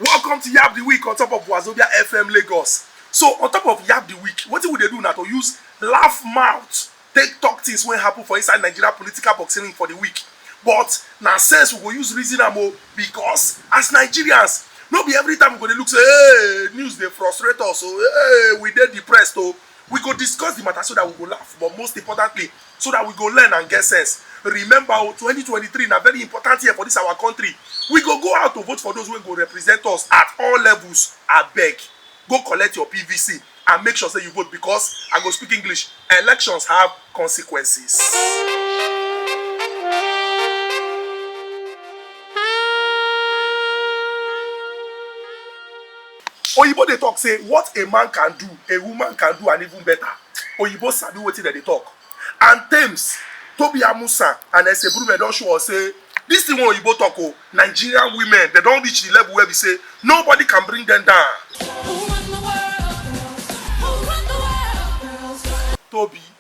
Welcome to Yab the Week on top of Wazobia FM Lagos. So on top of Yab the Week, wetin we dey do na to use laugh mouth take talk things wey happen for inside Nigeria political boxing ring for the week. But na sense we go use reason am o because as Nigerians, no be every time we go dey look say hey, news dey frustrate us o, hey, we dey depressed o. We go discuss the matter so that we go laugh but most importantly so that we go learn and get sense. Remember o, oh, twenty twenty three na very important year for this our country. We go go out to vote for those wey go represent us at all levels. Abeg, go collect your PVC and make sure say you vote because I go speak English. Elections have consequences. Oyibo dey talk say what a man can do, a woman can do and even better. Oyibo sabi wetin dem dey talk and Tems, Tobi Amusan and Esebulume don show us say this thing wey Oyibo talk o, Nigerian women dem don reach the level wey be say nobody can bring them down. Tobi.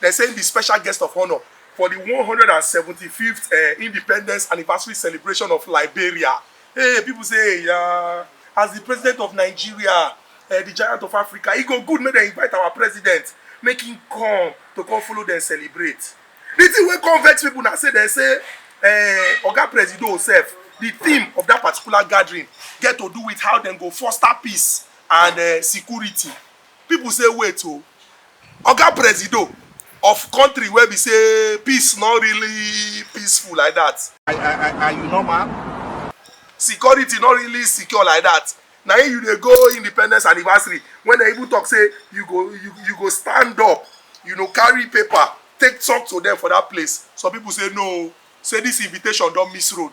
Dem say im be special guest of honour for di one hundred and seventy fifth um independence anniversary celebration of Liberia. Hey, pipo say eya, as di president of Nigeria, um di giant of Africa, e go good make dem invite our president make im come to come follow dem celebrate. Di tin wey come vex pipo na say dem say um oga presido sef, di theme of dat particular gathering get to do wit how dem go foster peace and um security People say wait o, Oga Presido of country wey be say peace no really peaceful like that. Are, are, are you normal? Security no really secure like that. Na im you dey go independence anniversary when dem even talk say you go you, you go stand up, you know, carry paper take talk to them for that place. Some people say no o, say this invitation don miss road.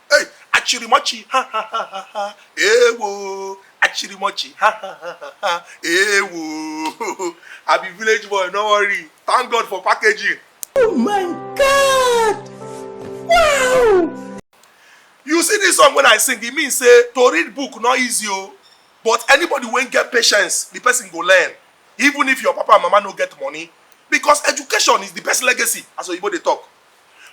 Hey, achirimochi, ha ha ha ha ha, ewo. Achirimochi, ha ha ha ha ha, ewo. I be village boy, no worry. Thank God for packaging. Oh my God! Wow! You see this song when I sing, it means say to read book not easy o. Oh. But anybody when get patience, the person go learn. Even if your papa and mama no get money. Because education is the best legacy, as Oyibo dey talk.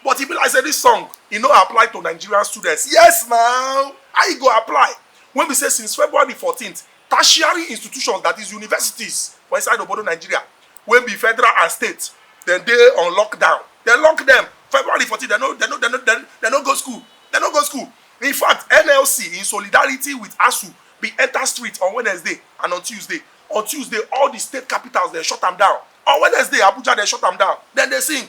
but e be like say this song e no apply to nigerian students yes na how e go apply when be say since february 14th tertiary institutions that is universities for inside obodo nigeria wey be federal and state dem dey on lockdown dem lock dem february 14 dem no dem no dem no dem dem no go school dem no go school in fact nlc in solidarity with asu bin enter street on wednesday and on tuesday on tuesday all di state capitals dem shut am down on wednesday abuja dem shut am down dem dey sing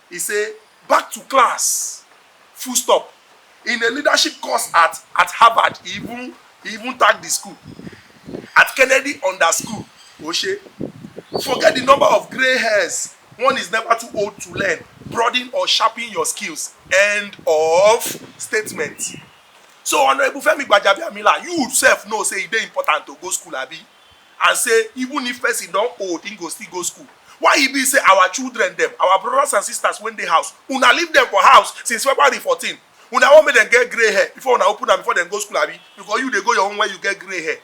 E say, Back to class! Full stop. In a leadership course at at Harvard, e even e even tag di school at Kennedy Under School, O shey, forget di number of grey hairs, one is never too old to learn, broaden or sharpen your skills, end of statement. So, Honourable Femi Gbajabiamila, you sef know say e dey important to go school, abi? and say even if person don old him go still go school why e be say our children dem our brothers and sisters wey dey house una leave dem for house since february fourteen una wan make dem get grey hair before una open am before dem go school abi because you dey go your own when you get grey hair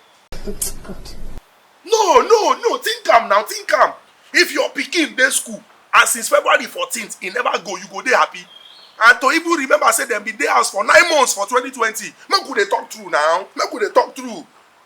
no no no think am now think am if your pikin dey school and since february fourteen e never go you go dey happy and to even remember say dem bin dey house for nine months for twenty twenty make we dey talk true now make we dey talk true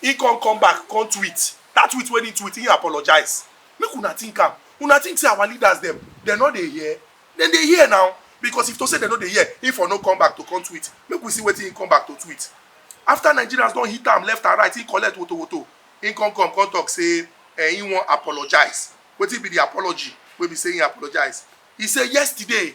He come come back come tweet, that tweet when he tweet he apologize. Make una think am, una think say our leaders dem, dem no dey hear? Dem dey hear na, because if to say dem no dey hear he for no come back to come tweet, make we see wetin he come back to tweet. After Nigerians don hit am left and right he collect woto woto, he come come come talk say eh he wan apologize, wetin be the apology wey be say he apologize? He say yesterday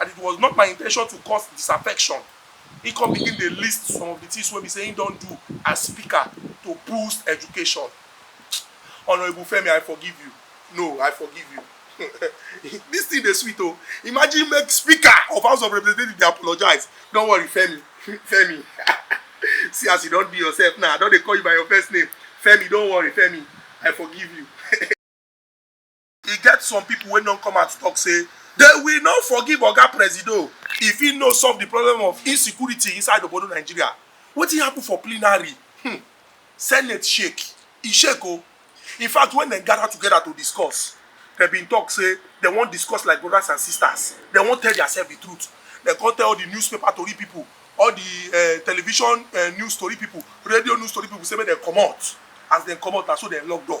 and it was not my intention to cause disaffection, im come begin dey list some of di tins wey be say im don do as speaker to boost education. Honourable Femi I forgive you, no I forgive you dis tin dey sweet o, imagine make speaker of house of representative dey apologise, don't worry Femi, Femi see as you don do yourself now I don dey call you by your first name, Femi don't worry Femi I forgive you. E get some pipo wey don come out tok say dey will not forgive oga Presido if he no solve di problem of insecurity inside obodo Nigeria. Wetin happun for plenary? Hmmm Senate shake, e shake o! In fact wen dem gada togeda to discuss, dem bin tok say dem wan discuss like brodas and sistas, dem wan tell diasef di truth. Dem come tell all di newspaper tori pipo, all di um television um news tori pipo, radio news tori pipo say make dem comot. As dem comot, na so dem lock door.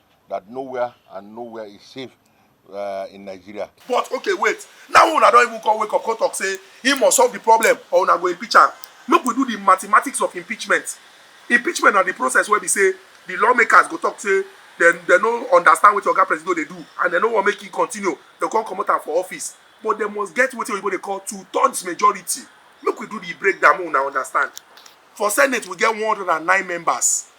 that nowhere and nowhere is safe uh, in Nigeria. But okay, wait. Now una don't even come wake up, come talk, say he must solve the problem or una go impeach him. Make we do the mathematics of impeachment. Impeachment na the process where we say the lawmakers go talk say dem dem no understand wetin oga presido dey do and dem no wan make e continue dem come comot am for office but dem must get wetin oyibo dey call two thirds majority make we do the breakdown make una understand for senate we get one hundred and nine members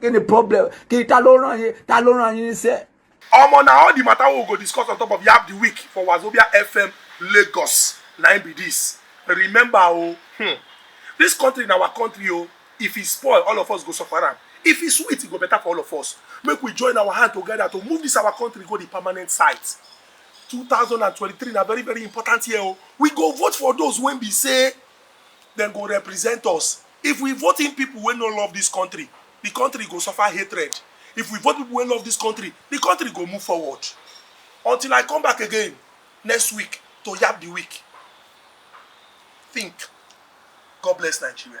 kí ni problem kí ni ta ló ràn yín ta ló ràn yín níṣẹ́. ọmọ na all the matter wey we go discuss on top of yab the week for wazobia fm lagos na im be this remember o oh, hmm, this country na our country o oh, if e spoil all of us go suffer am if e sweet e go better for all of us make we join our hand together to move this our country go the permanent site 2023 na very very important year o oh. we go vote for those wey be say dem go represent us. If we vote in people wey no love this country, the country go suffer hatred. If we vote people wey love this country, the country go move forward. Until I come back again next week to yab the week. Think. God bless Nigeria.